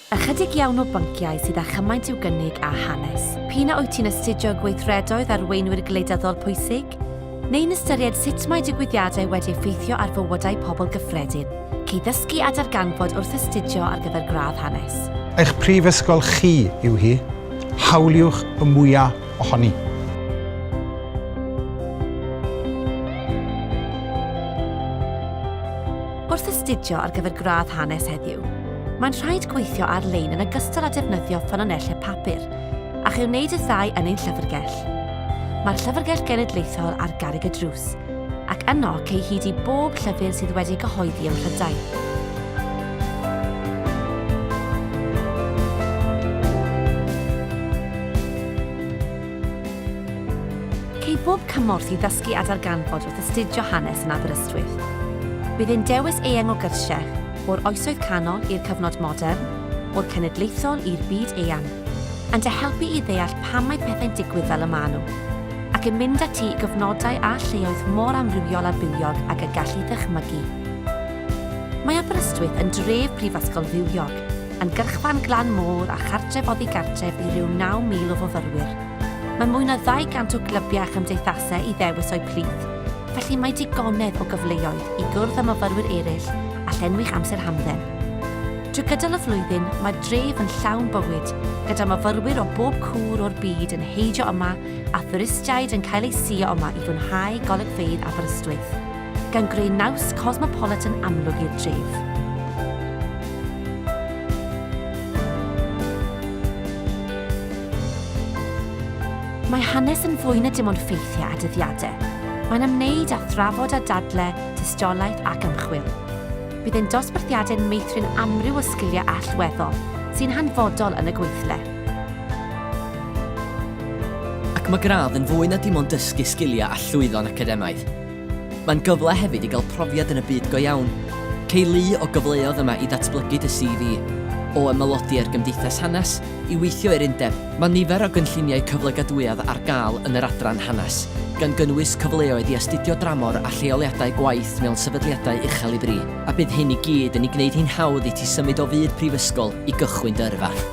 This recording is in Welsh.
Ychydig iawn o bynciau sydd â chymaint i'w gynnig â hanes. P'un a wyt ti'n astudio gweithredoedd arweinwyr gwleidyddol pwysig, neu'n ystyried sut mae digwyddiadau wedi effeithio ar fywydau pobl gyffredin, cei ddysgu a darganfod wrth astudio ar gyfer gradd hanes. Eich prifysgol chi yw hi, hawliwch y mwyaf ohoni! Wrth astudio ar gyfer gradd hanes heddiw, mae'n rhaid gweithio ar-lein yn ogystal â defnyddio ffynonellau papur, a chi wneud y ddau yn ein llyfrgell. Mae'r Llyfrgell Genedlaethol ar garreg y drws, ac yno cei hyd i bob llyfr sydd wedi ei gyhoeddi ym Mhrydain. Ceir bob cymorth i ddysgu a darganfod wrth astudio hanes yn Aberystwyth. Bydd ein dewis eang o gyrsiau, o'r Oesoedd Canol i'r cyfnod modern, o'r cenedlaethol i'r byd eang, yn dy helpu i ddeall pam mae pethau'n digwydd fel y maen nhw, ac yn mynd â ti i gyfnodau a lleoedd mor amrywiol a bywiog ag y galli ddychmygu. Mae Aberystwyth yn dref prifysgol fywiog. yn gyrchfan glan môr a chartref oddi gartref i ryw 9,000 o fyfyrwyr. Mae mwy na 200 o glybiau a chymdeithasau i ddewis o'u plith, felly mae digonedd o gyfleoedd i gwrdd â myfyrwyr eraill a llenwi'ch amser hamdden. Trwy gydol y flwyddyn, mae'r dref yn llawn bywyd, gyda myfyrwyr o bob cwr o'r byd yn heidio yma a thwristiaid yn cael eu suo yma i fwynhau golygfeydd Aberystwyth. gan greu naws cosmopolitan amlwg i'r dref. Mae hanes yn fwy na dim ond ffeithiau a dyddiadau. Mae'n ymwneud â thrafod a dadle, tystiolaeth ac ymchwil. Bydd ein dosbarthiadau'n meithrin amryw o sgiliau allweddol sy'n hanfodol yn y gweithle. Ac mae gradd yn fwy na dim ond dysgu sgiliau a llwyddo'n academaidd. Mae'n gyfle hefyd i gael profiad yn y byd go iawn. Cei lu o gyfleodd yma i ddatblygu dy CV, o ymaelodi â'r Gymdeithas Hanes i weithio i'r Undeb. Mae nifer o gynlluniau cyflogadwyedd ar gael yn yr adran Hanes, gan gynnwys cyfleoedd i astudio dramor a lleoliadau gwaith mewn sefydliadau uchel i fri. A bydd hyn i gyd yn ei gwneud hi'n hawdd i ti symud o fyd prifysgol i gychwyn dy yrfa.